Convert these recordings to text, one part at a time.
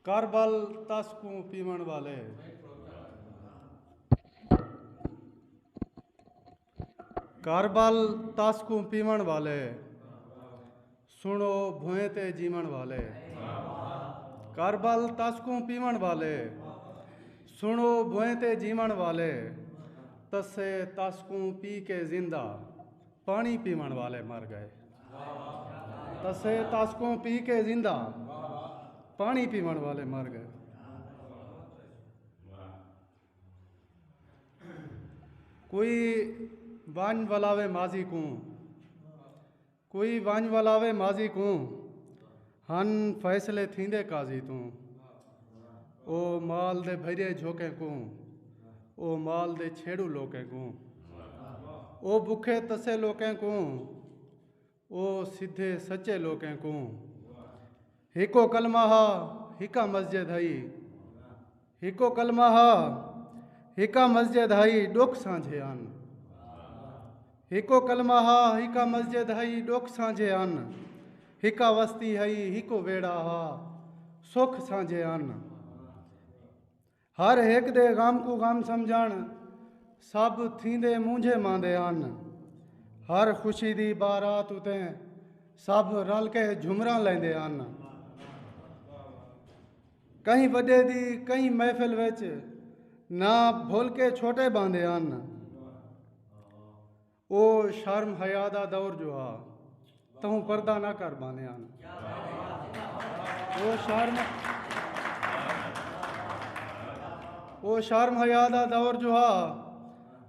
کربل تس کوں پیوݨ والے۔ کربل تس کوں پیوݨ والے سنو بھوئیں تے جیوݨ والے کربل تس کوں پیوݨ والے سنو بھوئیں تے جیوݨ والے تسے تس کوں پی کے زندہ پاݨی پیوݨ والے مر گئے تسے تاسکوں پی کے زندہ پاݨی پیوݨ والے مر گئے کوئی ونج ولاوے ماضی کوں کوئی ونج ولاوے ماضی کوں ہن فیصلے تھیندے قاضی توں۔ او مال دے بھریے جھوکیں کوں۔ او مال دے چھیڑو لوکیں کوں۔ او بکھے تسے لوکیں کوں۔ او سدھے سچے لوکیں کوں۔ ہکو کلمہ ہا ہکا مسجد ہئی۔ ہکو کلمہ ہا ہکا مسجد ہئی ڈکھ سانجھے ان ہکو کلمہ ہا ہکا مسجد ہئی ڈکھ سانجھے ان ہکا وستی ہئی ہکو ویڑا ہا سکھ سانجھے ان ہر ہک دے غم کو غم سمجھن سب تھیندے مونجھے ماندے ان ہر خوشی دی بارات اتے سب رل کے جھمراں لیندے ان کہیں وݙے دی کہیں محفل وچ نہ بھل کے چھوٹے باندے ہن او شرم حیا دا دور جو ہا تہوں پردہ نہ کر باندے ہن او شرم او شرم حیا دا دور جو ہا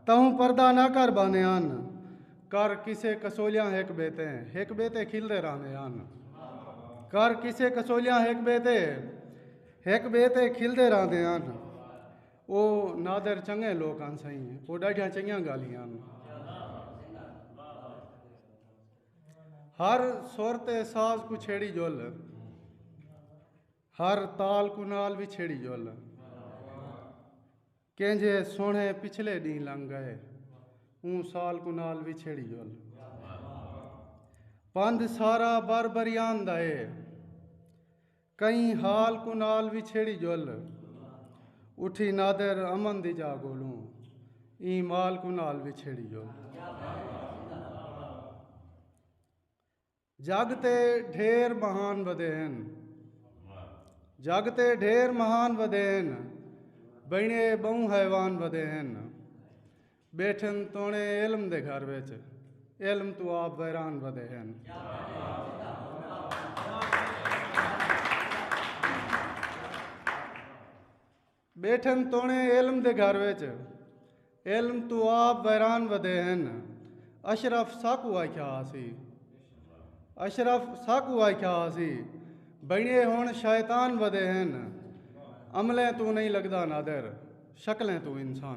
تہوں پردہ نہ کر باندے ہن کر قصے کسولیاں ہک ٻئے تے ہک ٻئے تے کھلدے رہندے ہن کر قصے کسولیاں ہک ٻئے تے ہک ٻئے تے کھلدے رہندے ہن او نادر چنگے لوک ہن سائیں او ݙاڈھیاں چنگیاں ڳالھیاں ہن ہر سر تے ساز کو چھیڑی جل ہر تال کو نال بھی چھیڑی جل کینجھے سوہݨے پچھلے ݙینہہ لنگھ ڳئے اوں سال کوں نال وچھیڑی ول پندھ سارا بر بریان دا اے کئیں حال کوں نال وچھیڑی ول اٹھی نادر امن دی جا گولوں ایں مال کوں نال وچھیڑی ول جڳ تے ڈھیر مہان ودے ہن۔ جڳ تے ڈھیر مہان ودے ہن۔ بئینے ٻہوں حیوان ودے ہن۔ ٻیٹھن توݨے علم دے گھر وچ۔ علم توں آپ ویران ودے ہن۔ ٻیٹھن توݨے علم دے گھر وچ علم توں آپ ویران ودے ہن۔ اشرف ساکوں آکھیا ہاسی۔ اشرف ساکوں آکھیا ہاسی۔ بنیے ہݨ شیطان ودے ہن۔ عملیں توں نئیں لڳدا نادر شکلیں توں انسان۔